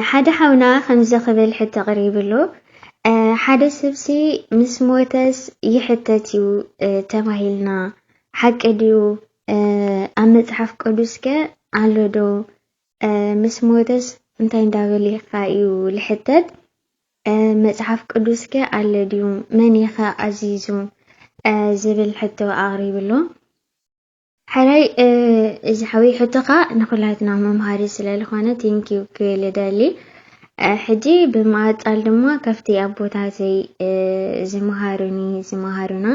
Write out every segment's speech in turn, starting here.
ሓደ ሓውና ከምዚ ክብል ሕቶ ቀሪቡ ኣሎ ሓደ ሰብሲ ምስ ሞተስ ይሕተት እዩ ተባሂልና ሓቂ ድዩ? ኣብ መጽሓፍ ቅዱስ ከ ኣሎ ዶ? ምስ ሞተስ እንታይ እንዳበልካ እዩ ልሕተት? መጽሓፍ ቅዱስ ከ ኣሎ ድዩ? መን ከ ኣዚዙ? ዝብል ሕቶ ኣቕሪቡ ኣሎ። ሕራይ እዚ ሓወይ ሕቶኻ ንኹላትና መምሃሪ ስለ ዝኾነ ቴንኪው ክብል እደሊ ሕጂ ብምኣጻል ድማ ካብቲ ኣቦታተይ ዝመሃሩኒ ዝመሃሩና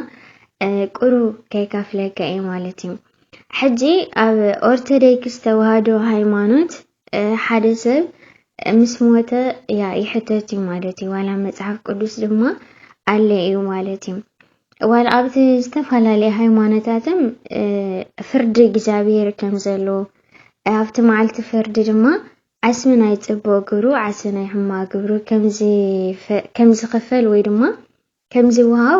ቁሩብ ከይካፍለካ እየ ማለት እዩ ሕጂ ኣብ ኦርቶዶክስ ተዋህዶ ሃይማኖት ሓደ ሰብ ምስ ሞተ ያ ይሕተት እዩ ማለት እዩ ዋላ መፅሓፍ ቅዱስ ድማ ኣለ እዩ ማለት እዩ ዋላ ኣብቲ ዝተፈላለየ ሃይማኖታትም ፍርዲ እግዚኣብሔር ከም ዘሎ ኣብቲ መዓልቲ ፍርዲ ድማ ዓስቢ ናይ ፅቡቅ ግብሩ ዓስቢ ናይ ሕማ ግብሩ ከም ዝኽፈል ወይ ድማ ከምዚ ውሃው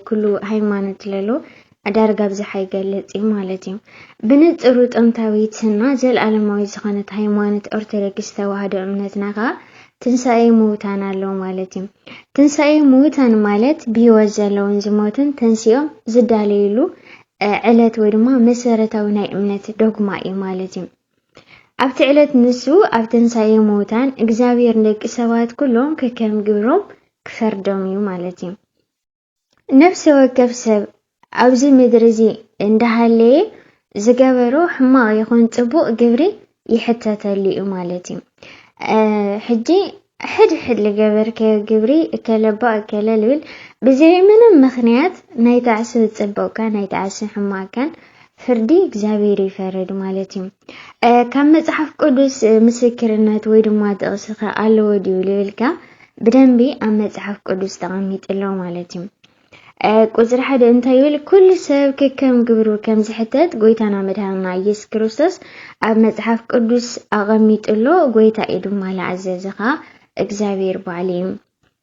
ኩሉ ሃይማኖት ለሎ ዳርጋ ብዝሓ ይገልጽ እዩ ማለት እዩ። ብንጽሩ ጥንታዊትና ዘልኣለማዊት ዝኾነት ሃይማኖት ኦርቶዶክስ ተዋህዶ እምነትና ከኣ ትንሳኤ ምውታን ኣለዉ ማለት እዩ። ትንሳኤ ምውታን ማለት ብህይወት ዘለውን ዝሞቱን ተንሲኦም ዝዳለይሉ ዕለት ወይ ድማ መሰረታዊ ናይ እምነት ዶግማ እዩ ማለት እዩ። ኣብቲ ዕለት ንሱ ኣብ ትንሣኤ ሙታን እግዚኣብሔር ንደቂ ሰባት ኩሎም ከከም ግብሮም ክፈርዶም እዩ ማለት እዩ። ነፍሲ ወከፍ ሰብ ኣብዚ ምድሪ እዚ እንዳሃለየ ዝገበሮ ሕማቕ ይኹን ጽቡቕ ግብሪ ይሕተተሉ እዩ ማለት እዩ። ሕጂ ሕድ ሕድ ልገበርከዮ ግብሪ እከለ'ባ እከለ ልብል ብዘይ ምንም ምኽንያት ናይ ጣዕሲ ጽቡቕካን ናይ ጣዕሲ ሕማቕካን ፍርዲ እግዚኣብሔር ይፈርድ ማለት እዩ። ካብ መጽሓፍ ቅዱስ ምስክርነት ወይ ድማ ጥቕስኸ ኣለዎ ድዩ ልብልካ ብደንቢ ኣብ መጽሓፍ ቅዱስ ተቐሚጡ ኣሎ ማለት እዩ። ቁፅሪ ሓደ እንታይ ይብል? ኩሉ ሰብ ከከም ግብሩ ከም ዝሕተት ጎይታና መድሃንና ኢየሱስ ክርስቶስ ኣብ መጽሓፍ ቅዱስ ኣቐሚጡሎ ጎይታ እዩ ድማ ዝኣዘዘኻ እግዚኣብሔር ባዕሉ እዩ።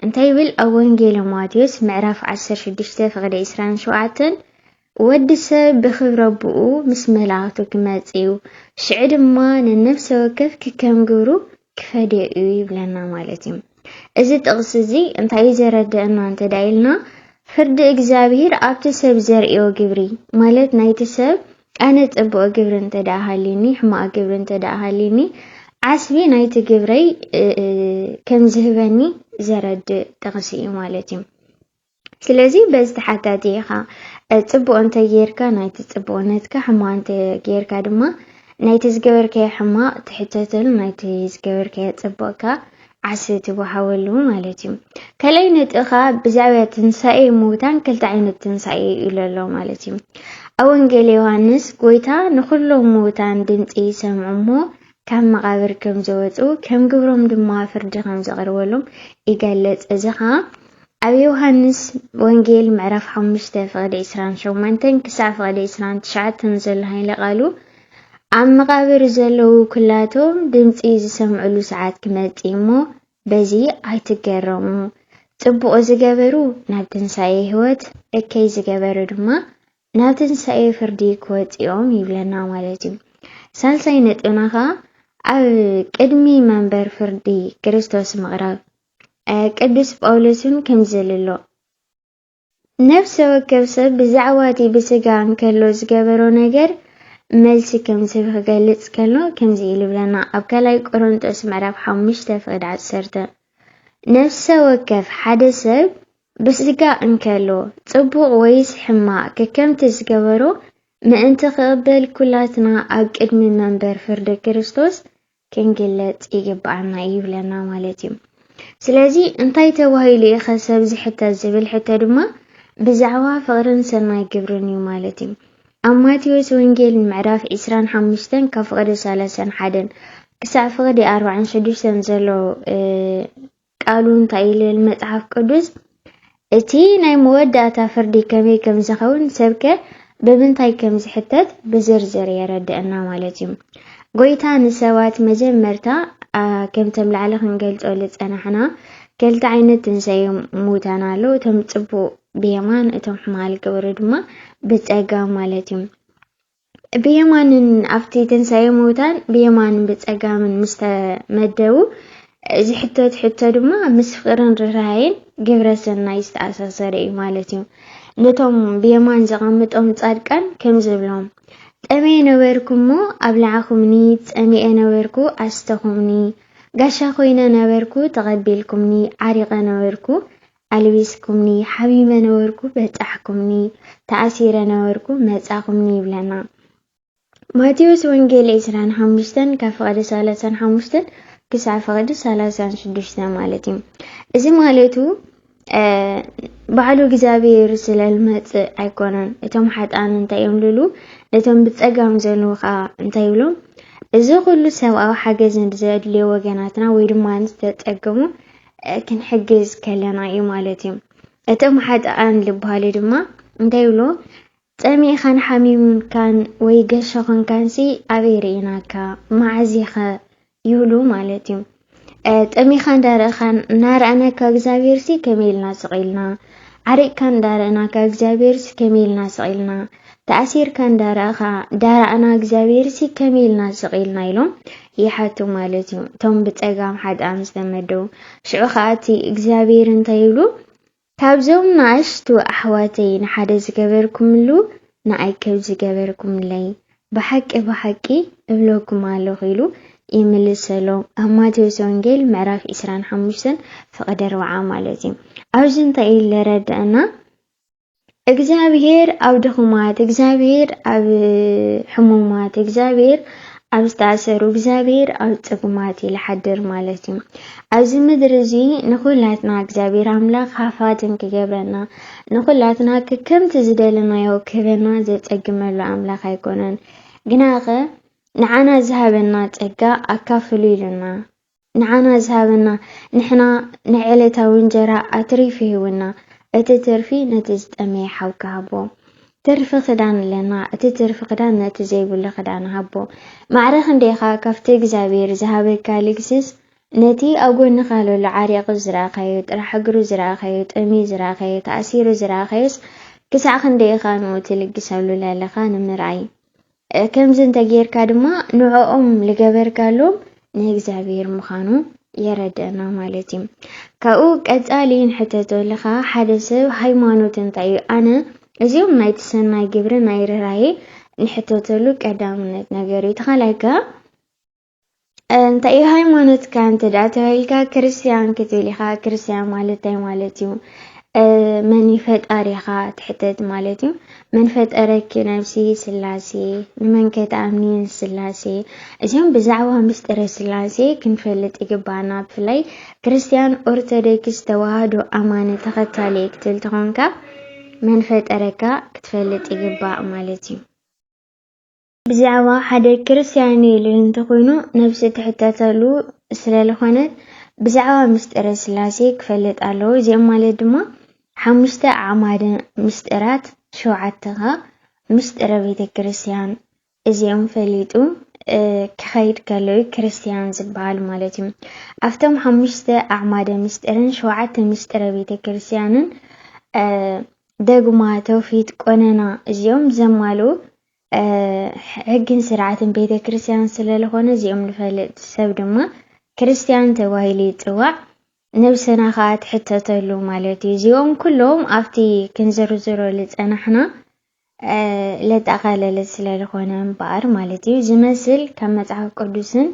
እንታይ ይብል ኣብ ወንጌለ ማቴዎስ ምዕራፍ 16 ፍቕዲ 27 ወዲ ሰብ ብክብረ ኣቦኡ ምስ መላእክቱ ክመጽእ እዩ፣ ሽዑ ድማ ንነፍሰ ወከፍ ክከም ግብሩ ክፈድዮ እዩ ይብለና ማለት እዩ። እዚ ጥቕሲ እዚ እንታይ እዩ ዘረድእና እንተ ኢልና ፍርዲ እግዚኣብሄር ኣብቲ ሰብ ዘርእዮ ግብሪ ማለት ናይቲ ሰብ ኣነ ጽቡቕ ግብሪ እንተ ደኣ ሃልዩኒ ሕማቕ ግብሪ እንተ ደኣ ሃልዩኒ ዓስቢ ናይቲ ግብረይ ከም ዝህበኒ ዘረድእ ጥቕሲ እዩ ማለት እዩ። ስለዚ በዚ ተሓታቲ ኢኻ ጽቡቕ እንተ ጌርካ ናይቲ ጽቡቕነትካ ሕማቕ እንተ ጌርካ ድማ ናይቲ ዝገበርካዮ ሕማቕ ትሕተተሉ ናይቲ ዝገበርካዮ ጽቡቕካ ዓስ ትወሃበሉ ማለት እዩ ካልኣይ ነጥቢ ከዓ ብዛዕባ ትንሳኤ ምውታን ክልተ ዓይነት ትንሳኤ ኢሉ ኣሎ ማለት እዩ ኣብ ወንጌል ዮሃንስ ጎይታ ንኩሎም ምውታን ድምፂ ይሰምዑ እሞ ካብ መቓብር ከም ዝወጹ፣ ከም ግብሮም ድማ ፍርዲ ከም ዝቐርበሎም ይገልጽ። እዚ ኸኣ ኣብ ዮሃንስ ወንጌል ምዕራፍ ሓሙሽተ ፍቕዲ ዕስራን ሸሞንተን ክሳዕ ፍቕዲ ዕስራን ትሽዓተን ዘሎ ሃይለ ቃሉ ኣብ መቓብር ዘለዉ ኩላቶም ድምጺ ዝሰምዕሉ ሰዓት ክመጽእ እዩ እሞ በዚ ኣይትገረሙ ጽቡቕ ዝገበሩ ናብ ትንሳኤ ሕይወት እከይ ዝገበሩ ድማ ናብ ትንሳኤ ፍርዲ ክወጽእዮም ይብለና ማለት እዩ። ሳልሳይ ነጥብና ከኣ ኣብ ቅድሚ መንበር ፍርዲ ክርስቶስ ምቕራብ ቅዱስ ጳውሎስ እውን ከምዚ ልሎ ነፍሰ ወከፍ ሰብ ብዛዕባ እቲ ብስጋ እንከሎ ዝገበሮ ነገር መልሲ ከም ዝህብ ክገልጽ ከሎ ከምዚ ኢሉ ይብለና ኣብ ካልኣይ ቆሮንጦስ ምዕራፍ ሓሙሽተ ፍቕዲ ዓሰርተ ነፍሰ ወከፍ ሓደ ሰብ ብስጋ እንከሎ ጽቡቕ ወይስ ሕማቕ ከከምቲ ዝገበሮ ምእንቲ ክቕበል ኩላትና ኣብ ቅድሚ መንበር ፍርዲ ክርስቶስ ክንግለጽ ይግብኣና እዩ ይብለና ማለት እዩ። ስለዚ እንታይ ተባሂሉ እዩኸ ሰብ ዝሕተት ዝብል ሕቶ ድማ ብዛዕባ ፍቕርን ሰናይ ግብርን እዩ ማለት እዩ። ኣብ ማቴዎስ ወንጌል ምዕራፍ ዒስራን ሓሙሽተን ካብ ፍቕዲ ሰላሳን ሓደን ክሳዕ ፍቕዲ ኣርባዓን ሽዱሽተን ዘሎ ቃሉ እንታይ ኢሉ ይብል መጽሓፍ ቅዱስ? እቲ ናይ መወዳእታ ፍርዲ ከመይ ከም ዝኸውን ሰብከ ብምንታይ ከም ዝሕተት ብዝርዝር የረድእና ማለት እዩ። ጎይታ ንሰባት መጀመርታ ከምቶም ላዕሊ ክንገልጾ ዝጸናሕና ክልተ ዓይነት ትንሳኤ ሙታን ኣሎ። እቶም ጽቡቕ ብየማን እቶም ሕማል ክብሩ ድማ ብጸጋም ማለት እዩ። ብየማንን ኣብቲ ትንሳኤ ምዉታን ብየማንን ብጸጋምን ምስ ተመደቡ፣ እዚ ሕቶት ሕቶ ድማ ምስ ፍቕርን ርህራሄን ግብረ ሰናይ ዝተኣሳሰረ እዩ ማለት እዩ። ነቶም ብየማን ዘቐምጦም ጻድቃን ከምዚ ይብሎም፣ ጠምየ ነበርኩ እሞ ኣብላዕኩምኒ፣ ጸሚኤ ነበርኩ ኣስተኹምኒ፣ ጋሻ ኮይነ ነበርኩ ተቐቢልኩምኒ፣ ዓሪቐ ነበርኩ ኣልቢስኩምኒ ሓሚመ ነበርኩ በጻሕኩምኒ ተኣሲረ ነበርኩ መጻኹምኒ ይብለና ማቴዎስ ወንጌል ዕስራን ሓሙሽተን ካብ ፍቕዲ ሰላሳን ሓሙሽተን ክሳዕ ፍቕዲ ሰላሳን ሽዱሽተ ማለት እዩ እዚ ማለቱ ባዕሉ እግዚኣብሔር ስለልመፅእ ኣይኮነን እቶም ሓጣን እንታይ እዮም ልሉ ነቶም ብፀጋም ዘለዉ ከዓ እንታይ ይብሎም እዚ ኩሉ ሰብኣዊ ሓገዝ ዘድልዮ ወገናትና ወይ ድማ ዝተፀገሙ ክንሕግዝ ከለና እዩ ማለት እዩ። እቶም ሓጥኣን ዝበሃሉ ድማ እንታይ ይብሉ? ጸሚእኻን ሓሚሙንካን ወይ ገሾ ኮንካንሲ ኣበይ ርኢናካ መዓዚኸ ይብሉ ማለት እዩ። ጠሚኻ እንዳረእኻን እናረኣናካ እግዚኣብሄርሲ ከመይ ኢልና ስቕ ኢልና ዓሪቕካ እንዳረእናካ እግዚኣብሄርሲ ከመይ ኢልና ስቕ ኢልና ተኣሲርካ እንዳረኣኻ ዳራዕና እግዚኣብሔርሲ ከመይ ኢልና ስቕ ኢልና ኢሎም ይሓቱ ማለት እዩ እቶም ብፀጋም ሓጥኣም ዝተመደቡ ሽዑ ከዓ እቲ እግዚኣብሔር እንታይ ይብሉ ካብዞም ንኣሽቱ ኣሕዋተይ ንሓደ ዝገበርኩምሉ ንኣይ ከብ ዝገበርኩምለይ ብሓቂ ብሓቂ እብለኩም ኣለኹ ኢሉ ይምልሰሎም ኣብ ማቴዎስ ወንጌል ምዕራፍ 25 ፍቕዲ 4 ማለት እዩ ኣብዚ እንታይ እዩ ለረድአና እግዚኣብሄር ኣብ ድኹማት፣ እግዚኣብሄር ኣብ ሕሙማት፣ እግዚኣብሄር ኣብ ዝተኣሰሩ፣ እግዚኣብሄር ኣብ ጽጉማት እዩ ዝሓድር ማለት እዩ። ኣብዚ ምድሪ እዚ ንኹላትና እግዚኣብሄር ኣምላኽ ሃፋትም ክገብረና፣ ንኹላትና ከከምቲ ዝደለናዮ ክህበና ዘጸግመሉ ኣምላኽ ኣይኮነን። ግናኸ ንዓና ዝሃበና ጸጋ ኣካፍሉ ኢሉና ንዓና ዝሃበና ንሕና ናይ ዕለታዊ እንጀራ ኣትሪፉ ሂቡና እቲ ትርፊ ነቲ ዝጠመየ ሓውካ ሃቦ። ትርፊ ክዳን ኣለና እቲ ትርፊ ክዳን ነቲ ዘይብሉ ክዳን ሃቦ። ማዕረ ክንደይ ኢኻ ካብቲ እግዚኣብሄር ዝሃበካ ልግስስ ነቲ ኣብ ጎንኻ ለሎ ዓሪቑ ዝረኣኻዮ ጥራሕ እግሩ ዝረኣኻዮ ጠምዩ ዝረኣኻዮ ተኣሲሩ ዝረኣኻዮስ ክሳዕ ክንደይ ኢኻ ንኡ ትልግሰሉ ለለኻ ንምርኣይ ከምዚ እንተ ጌርካ ድማ ንዕኦም ልገበርካሎም ንእግዚኣብሔር ምዃኑ የረድእና ማለት እዩ። ካብኡ ቀጻሊ ንሕተቶ ለኻ ሓደ ሰብ ሃይማኖት እንታይ እዩ? ኣነ እዚኦም ናይቲ ሰናይ ግብሪ ናይ ርህራሄ ንሕተተሉ ቀዳምነት ነገር እዩ። ተኻላይ ከኣ እንታይ እዩ ሃይማኖትካ እንተ ደኣ ተባሂልካ ክርስትያን ክትብል ኢኻ። ክርስትያን ማለት እንታይ ማለት እዩ? መን እዩ ፈጣሪኻ ትሕተት ማለት እዩ። መን ፈጠረኪ ነብሲ ስላሴ፣ ንመን ከ ትኣምኒ ንስላሴ። እዚኦም ብዛዕባ ምስጢረ ስላሴ ክንፈልጥ ይግባኣና። ብፍላይ ክርስትያን ኦርቶዶክስ ተዋህዶ ኣማኒ ተኸታሊ ክትብል ተኾንካ መን ፈጠረካ ክትፈልጥ ይግባእ ማለት እዩ። ብዛዕባ ሓደ ክርስትያን እዩ ልል እንተኮይኑ ነብሲ ትሕተተሉ ስለ ልኮነት ብዛዕባ ምስጢረ ስላሴ ክፈልጥ ኣለዎ እዚኦም ማለት ድማ ሓሙሽተ ኣዕማደ ምስጢራት ሸውዓተ ከኣ ምስጢረ ቤተ ክርስትያን እዚኦም ፈሊጡ ክኸይድ ከሎ እዩ ክርስትያን ዝበሃል ማለት እዩ ኣብቶም ሓሙሽተ ኣዕማደ ምስጢርን ሸውዓተ ምስጢረ ቤተ ክርስትያንን ደግማ ተውፊት ቆነና እዚኦም ዘማልኡ ሕግን ስርዓትን ቤተ ክርስቲያን ስለዝኾነ እዚኦም ንፈልጥ ሰብ ድማ ክርስቲያን ተባሂሉ ይፅዋዕ። ነብሰና ከዓ ትሕተተሉ ማለት እዩ። እዚኦም ኩሎም ኣብቲ ክንዝርዝሮ ዝፀናሕና ለጠቓለለ ስለዝኾነ እምበኣር ማለት እዩ ዝመስል ካብ መፅሓፍ ቅዱስን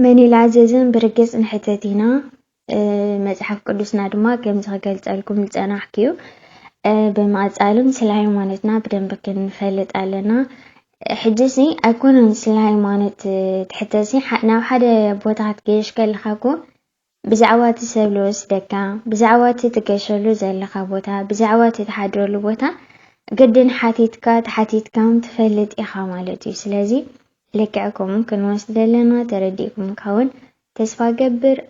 መን እዩ ዝኣዘዘን ብርግጽ ንሕተት ኢና፣ መጽሓፍ ቅዱስና ድማ ከምዚ ክገልጸልኩም ዝጸናሕኩ እዩ። ብምቕጻልም ስለ ሃይማኖትና ብደንቢ ክንፈልጥ ኣለና። ሕጂሲ ኣይኮነን ስለ ሃይማኖት ትሕተሲ፣ ናብ ሓደ ቦታ ክትገይሽ ከለኻ እኮ ብዛዕባ እቲ ሰብ ልወስደካ፣ ብዛዕባ እቲ ትገሸሉ ዘለኻ ቦታ፣ ብዛዕባ እቲ ትሓድረሉ ቦታ ግድን ሓቲትካ ተሓቲትካም ትፈልጥ ኢኻ ማለት እዩ። ስለዚ ልክዕ ከምኡ ክንወስደለና ተረዲእኩምካ ውን ተስፋ ገብር።